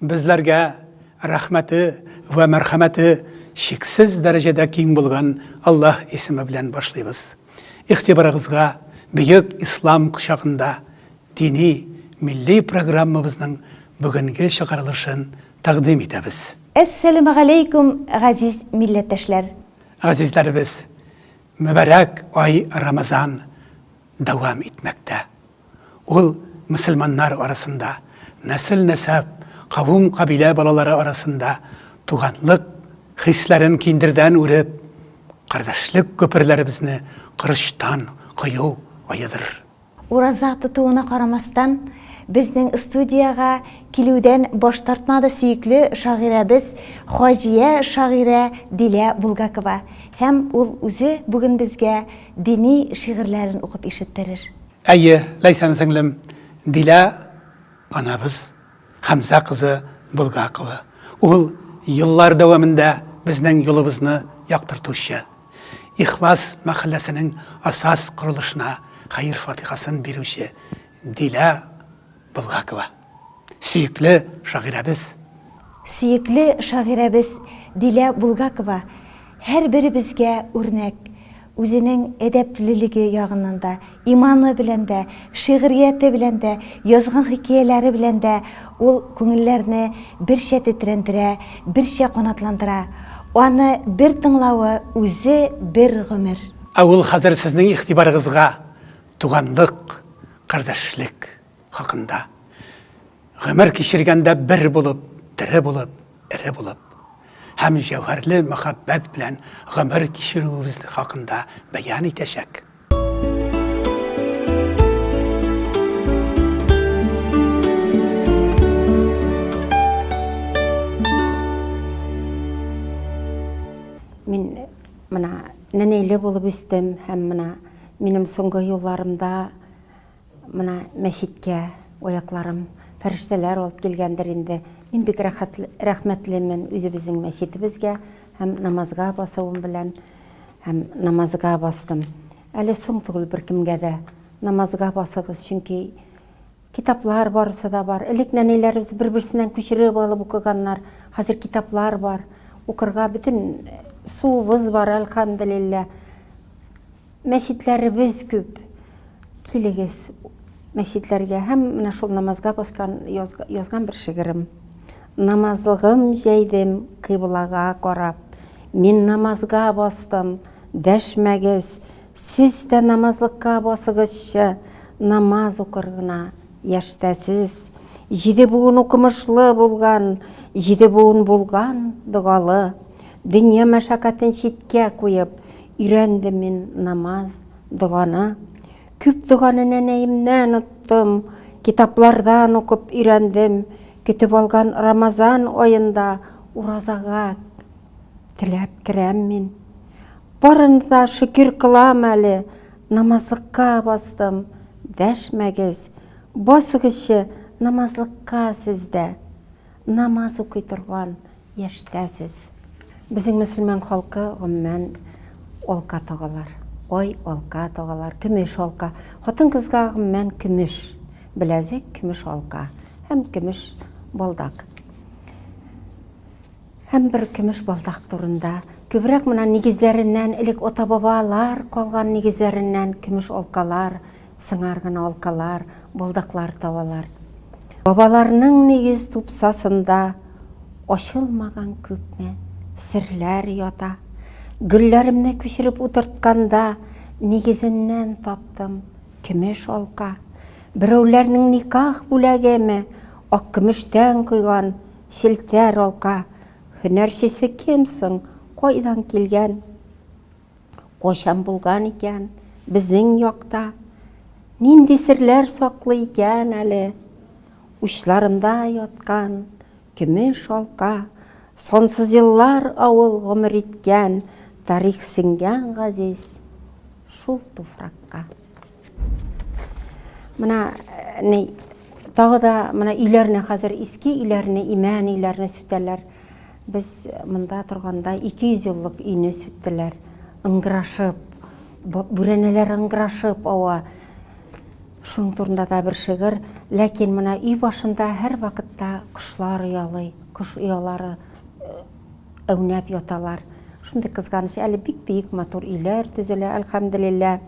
Безләргә рәхмәте вә мәрхәмәте чиксез дәрәҗәдә киң булган Аллаһ исеме белән башлыйбыз. Игътибарыгызга бөек Ислам кочагында дини милли программабызның бүгенге чыгарылышын тәкъдим итәбез. Әссәләмәгаләйкүм, газиз милләттәшләр! Газизләребез, мөбарәк ай Рамазан дәвам итмәктә. Ул мөселманнар арасында, нәсел-нәсәп, кавем-кабилә балалары арасында туганлык хисләрен киндердән үреп, кардәшлек күперләребезне корычтан кою аедырыр. Ураза тотуына карамастан, безнең студиягә килүдән баш тартмады сөекле шагыйрәбез Хаҗия шагыйрә Дилә Булгакова һәм ул үзе бүген безгә дини шигырьләрен укып ишеттерер. Әйе, Ләйсән сеңлем, Дилә анабыз Хәмзә кызы Булгакова. Ул еллар дәвамында безнең юлыбызны яктыртучы, Ихлас мәхәлләсенең асас корылышына хәер-фатихасын бирүче Дилә Булгакова. Сөекле шагыйрәбез. Сөекле шагыйрәбез Дилә Булгакова һәрберебезгә үрнәк. Үзенең әдәплелеге ягыннан да, иманы белән дә, шигърияте белән дә, язган хикәяләре белән дә ул күңелләрне берчә тетрәндерә, берчә канатландыра. Аны бер тыңлавы үзе бер гомер. Ә ул хәзер сезнең игътибарыгызга Туганлык, кардәшлек. хакында. Гомер кичергәндә бер булып, тере булып, эре булып һәм җәүһәрле мәхәббәт белән гомер кичерүебез хакында бәян итәчәк. Мин менә нәнәйле булып үстем һәм менә минем соңгы елларымда Менә мәчеткә аякларым фәрештәләр алып килгәндер инде. Мин бик рәхмәтлемен үзебезнең мәчетебезгә һәм намазга басуым белән. Һәм намазга бастым. Әле соң түгел беркемгә дә намазга басыгыз, чөнки китаплар барысы да бар. Элек нәниләребез бер-берсеннән күчереп алып укыганнар. Хәзер китаплар бар. Укырга бөтен суыбыз бар, әлхәмдүлилләһ. Мәчетләребез күп, килегез мәчетләргә һәм менә шул намазга поскан язган бер шигырем. Намазлыгым җәйдем кыйблага карап, мин намазга бастым, дәшмәгез, сез дә намазлыкка басыгызчы, намаз укыр гына яшьтәсез. Җиде буын укымышлы булган, җиде буын булган догалы, дөнья мәшәкатен читкә куеп, Өйрәндем мин намаз, доганы. Күп доганы нәнәемнән оттым, Китаплардан укып өйрәндем, Көтеп алган Рамазан аенда Уразага теләп керәм мин. Барына да шөкер кылам әле, Намазлыкка бастым, дәшмәгез, Басыгызчы намазлыкка сез дә. Намаз укый торган яшьтә сез. Безнең мөселман халкы гомумән алка тагалар. Ай алка тагалар, көмеш алка. Хатын-кызга гомумән көмеш беләзек, көмеш алка һәм көмеш балдак. Һәм бер көмеш балдак турында күбрәк менә нигезләреннән элек ата-бабалар калган нигезләреннән көмеш алкалар Сыңар гына алкалар, балдаклар табалар. Бабаларның нигез тупсасында ачылмаган күпме серләр ята. Гөлләремне күчереп утыртканда, нигезеннән таптым көмеш алка. Берәүләрнең никах бүләгеме, ак көмештән койган челтәр алка. Һөнәрчесе кем соң, кайдан килгән? Кайчан булган икән безнең якта? Нинди серләр саклый икән әле? Учларымда яткан көмеш алка, Сонсыз еллар авыл гомер иткән, Тарих сеңгән газиз шул туфракка. Менә ни тагы да менә өйләрне хәзер иске өйләрне, имән өйләрне сүтәләр. Без монда торганда 200 еллык өйне сүттеләр. Ыңгырашып, бүрәнәләр ыңгырашып ава. Шуның турында да бер шигырь. Ләкин менә өй башында һәрвакытта кошлар оялый, кош оялары Әүнәп яталар. Шундый кызганыч, әле бик биек матур өйләр төзелә, әлхәмделилла.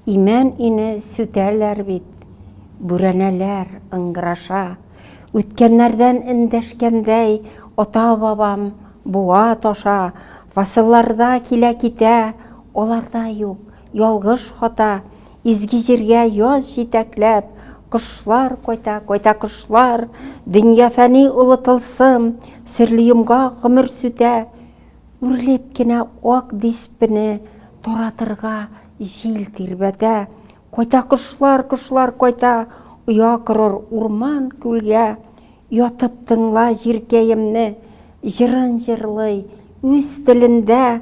Имән өйне сүтәләр бит. Бүрәнәләр ыңгыраша. Үткәннәрдән эндәшкәндәй, ата-бабам буа-таша, фасылларда килә-китә, аларда юк. Ялгыш хата, изге җиргә яз җитәкләп, Кошлар кайта, кайта кошлар, дөнья фәни олы тылсым, Серле йомгак гомер сүтә, үрлеп кенә ак диспене Таратырга җил тирбәтә. Кайта кошлар, кошлар кайта, оя корыр урман, күлгә, Ятып тыңла җиркәемне, җырын җырлый үз телендә.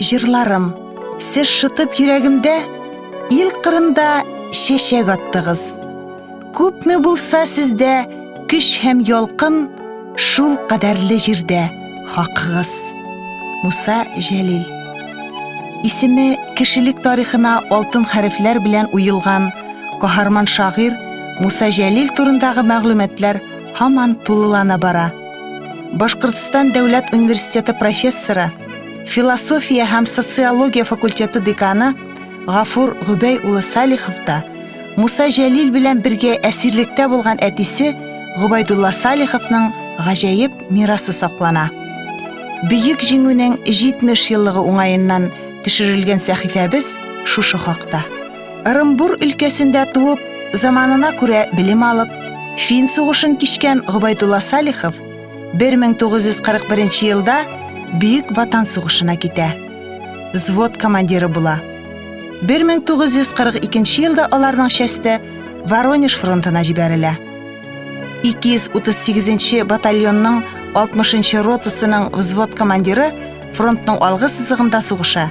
Җырларым, сез шытып йөрәгемдә, ил кырында чәчәк аттыгыз. Күпме булса сездә көч һәм ялкын, шул кадәрле җирдә хакыгыз. Муса Җәлил. Исеме кешелек тарихына алтын хәрефләр белән уелган каһарман шагыйрь Муса Җәлил турындагы мәгълүматлар һаман тулылана бара. Башкортстан дәүләт университеты профессоры, философия һәм социология факультеты деканы Гафур Гөбәй улы Салихов та Муса Җәлил белән бергә әсирлектә булган әтисе Губайдулла Салиховның гаҗәеп мирасы саклана. Бөек җиңүнең 70 еллыгы уңаеннан төшерелгән сәхифәбез шушы хакта. Ырымбур өлкәсендә туып, заманына күрә белем алып, фин сугышын кичкән Гобайдулла Салихов 1941 елда Бөек Ватан сугышына китә. Взвод командиры була. 1942 елда аларның часте Воронеж фронтына җибәрелә. 238 батальонның 60 ротасының взвод командиры фронтның алгы сызыгында сугыша.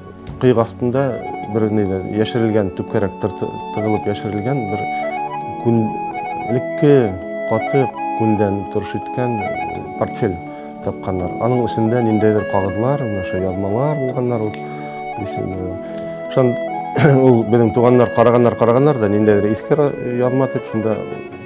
Кыек астында бер нидә яшерелгән төпкәрәк тыгылып яшерелгән бер күнлекке каты күндән торыш иткән портфель тапканнар. Аның эчендә ниндәйдер кагызлар, менә шул язмалар булганнар ул. Шул ул безнең туганнар караганнар, караганнар да ниндәйдер иске язма дип шунда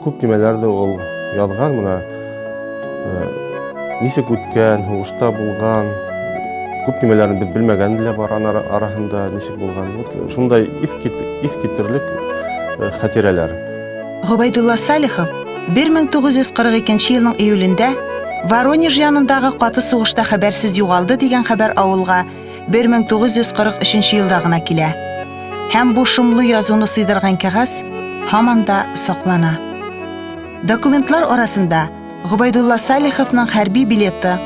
Күп төймәләрдә ул язган менә ничек үткән, һугышта булган, күп төймәләрен без белмәгән дә бар ана арасында ничек булган. Вот шундай ис ис китерлек хатирәләр. Гобайдулла Салихов 1942 елның июлендә Воронеж янындагы каты сугышта хәбәрсез югалды дигән хәбәр авылга 1943 елда гына килә. Һәм бу шомлы язуны сыйдырган кәгазь һаман да саклана. Документлар арасында Губайдулла Салиховның хәрби билеты,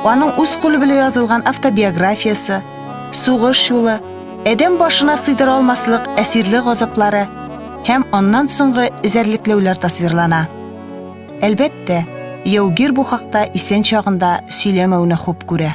аның үз кулы белән язылган автобиографиясе, сугыш юлы, әдәм башына сыйдыра алмаслык әсирле газаплары һәм аннан соңгы эзәрлекләүләр тасвирлана. Әлбәттә, яугир бу хакта исән чагында сөйләмәүне хуп күрә.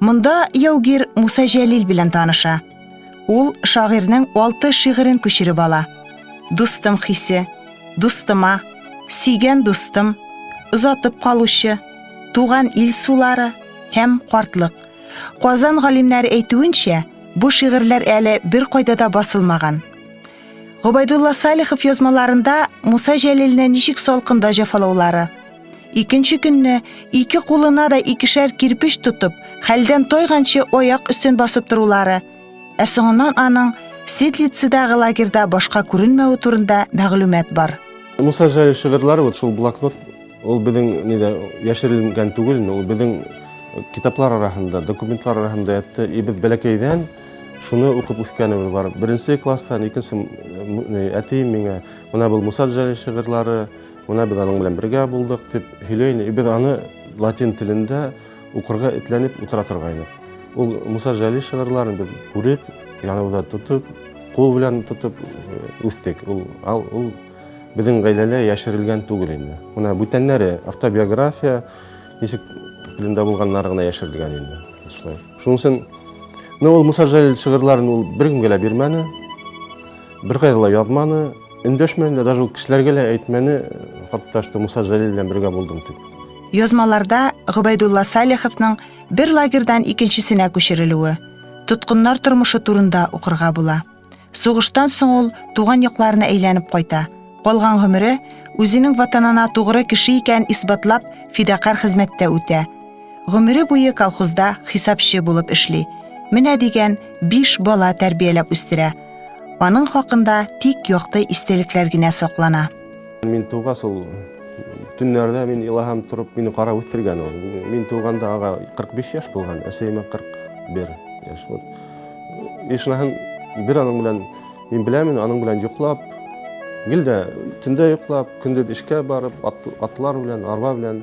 Монда яугир Муса Җәлил белән таныша. Ул шагыйрьнең алты шигырен күчереп ала. Дустым хисе, дустыма, сөйгән дустым, озатып калучы, туган ил сулары һәм картлык. Казан галимнәре әйтүенчә, бу шигырьләр әле бер кайда да басылмаган. Гобайдулла Салихов язмаларында Муса Җәлилне ничек салкында җафалаулары, Икенче көнне ике кулына да икешәр кирпич тотып, хәлдән тойганчы аяк өстен басып торулары, ә соңыннан аның Ситлицидагы лагерьда башка күренмәве турында мәгълүмат бар. Муса Җай шигырьләре вот шул блокнот, ул безнең нидә яшерелгән түгел, ул безнең китаплар арасында, документлар арасында ятты. И без бәләкәйдән шуны укып үскәнебез бар. Беренче класстан, икенче әти миңа, менә бул Муса Җай шигырьләре, Менә без аның белән бергә булдык, дип һөйләй иде. Без аны латин телендә укырга этләнеп утыра торгайнык. Ул Муса Җәлил шигырьләрен без күреп, яныбызда тотып, кул белән тотып э, үстек. Ул, ал, ул безнең гаиләлә яшерелгән түгел инде. Менә бүтәннәре автобиография ничек телендә булганнары гына яшерелгән инде. Шулай. Шуның өчен ну, ул Муса Җәлил шигырьләрен ул беркемгә лә бирмәне, беркайда ла язманы. Өндәшмәде дә, даже ул кешеләргә лә әйтмәне, хатта что Муса Җәлил белән бергә булдым дип. Язмаларда Гобәйдулла Салиховның бер лагерьдан икенчесенә күчерелүе, тоткыннар тормышы турында укырга була. Сугыштан соң ул туган якларына әйләнеп кайта. Калган гомере үзенең ватанына тугры кеше икәнен исбатлап фидакарь хезмәттә үтә. Гомере буе колхозда хисапчы булып эшли. Менә дигән биш бала тәрбияләп үстерә. Аның хакында тик якты истәлекләр генә саклана. Мин тугас ул төннәрдә мин илаһам торып, мине карап үстергән ул. Мин туганда ага 45 яшь булган, әсәемә 41 яшь. Вот. Ишнаһын бер аның белән мин беләмен, аның белән йоклап, гел дә төндә йоклап, көндез эшкә барып, атлар белән, арба белән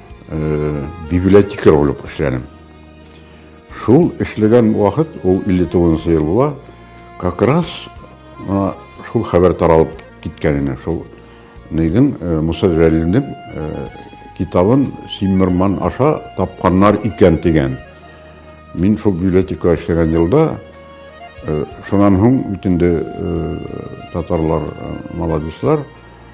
э, библиотекарь булып эшләдем. Шул эшләгән вакыт, ул 59 ел була, как раз ана шул хәбәр таралып киткәненә, шул нидин э, Муса Җәлилнең э, китабын Симмерман аша тапканнар икән дигән. Мин шул библиотека эшләгән елда Э, шунан һуң бит инде э, татарлар э, молодецлар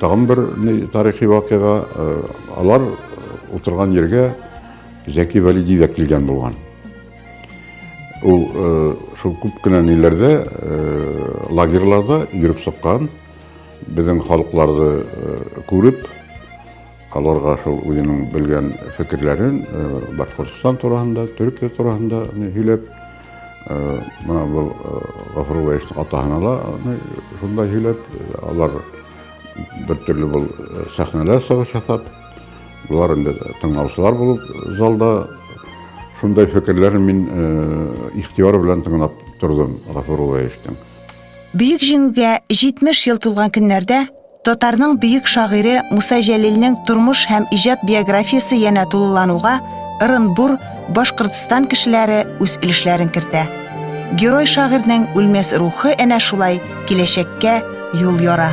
Тагын бер тарихи вакыйга, алар утырган җиргә Зәки Вәлиди дә килгән булган. Ул шул күп кенә ниләрдә, лагерьларда йөреп сыккан, безнең халыкларды күреп, аларга шул үзенең белгән фикерләрен Башкортстан турында, Төркия турында һөйләп, мына бу Гафуровичның атаһына да шунда һөйләп, алар бер төрле бул сәхнәләр сагыш ясап, булар инде тыңлаучылар булып залда шундай фикерләрен мин ихтыяр белән тыңлап тордым Гафуровичның. Бөек җиңүгә 70 ел тулган көннәрдә Татарның бөек шагыйре Муса Җәлилнең тормыш һәм иҗат биографиясе янә тулылануга Ырынбур, Башкортстан кешеләре үз өлешләрен кертә. Герой шагыйрьнең үлмәс рухы әнә шулай киләчәккә юл яра.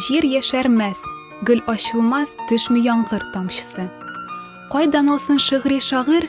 Җир яшәрмәс, гөл ачылмас, төшми яңгыр тамчысы. Кайдан алсын шигъри шагыйрь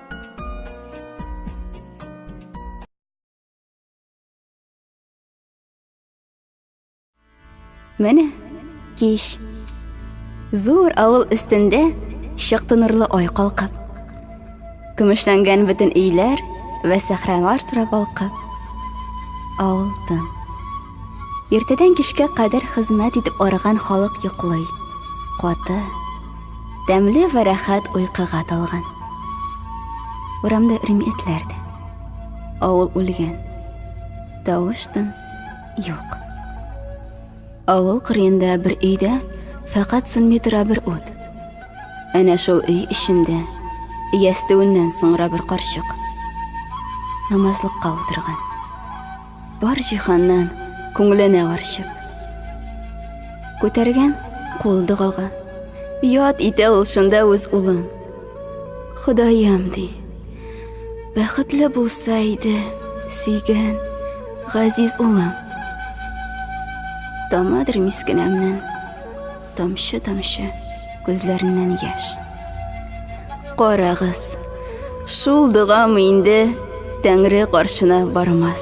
Менә кич. Зур авыл өстендә чыкты нурлы ай калкып. Көмешләнгән бөтен өйләр вә сәхралар турап алкып. Авыл тын. Иртәдән кичкә кадәр хезмәт итеп арыган халык йоклый. Каты, тәмле вә рәхәт уйкыга талган. Урамда өрми этләр дә. Авыл үлгән. Тавыштан юк. Авыл кырыенда бер өйдә фәкать сүнми тора бер ут. Әнә шул өй эчендә ястүеннән соңра бер карчык намазлыкка утырган. Бар җиһаннан күңленә арчып. Күтәргән кул догага. Яд итә ул шунда үз улын. Ходаем ди. Бәхетле булса иде, сөйгән, газиз улым. Тамадыр мискенәмнен. Тамчы-тамчы күзләреннән яшь. Карагыз, шул догамы инде Тәңре каршына бармас.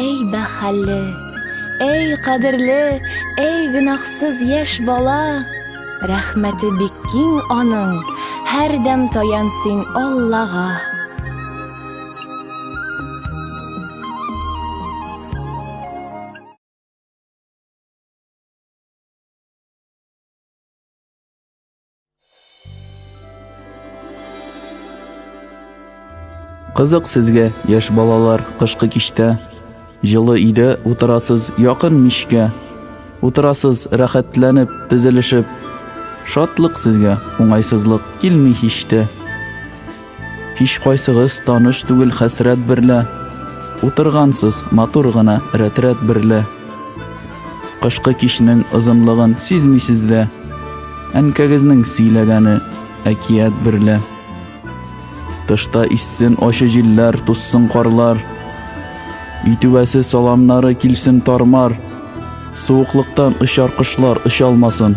Әй бәхәлле, әй кадерле, әй гөнаһсыз яшь бала! Рәхмәте бик киң аның, һәрдәм таян син Аллага. Кызык сезгә, яшь балалар, кышкы кичтә. Җылы өйдә утырасыз, якын мичкә. Утырасыз, рәхәтләнеп, тезелешеп. Шатлык сезгә, уңайсызлык килми һич тә. Һичкайсыгыз таныш түгел хәсрәт берлә, Утыргансыз матур гына рәтрәт берлә. Кышкы кичнең озынлыгын сизмисез дә, Әнкәгезнең сөйләгәне әкият берлә. Тышта иссен ачы җилләр, туссын карлар, Өй түбәсе саламнары килсен тармар, Суыклыктан очар кошлар оча алмасын.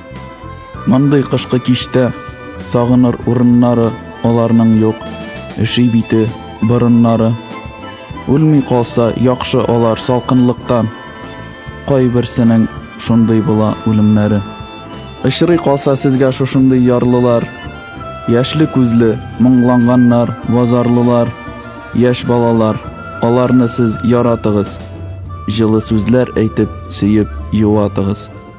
Мондый кышкы кичтә сагыныр урыннары аларның юк. Өши бите, борыннары. Үлми калса, яхшы алар салкынлыктан. Кайберсенең шундый була үлемнәре. Очрый калса сезгә шушындый ярлылар. Яшьле күзле, моңланганнар, базарлылар, яшь балалар. Аларны сез яратыгыз. Җылы сүзләр әйтеп, сөеп юатыгыз.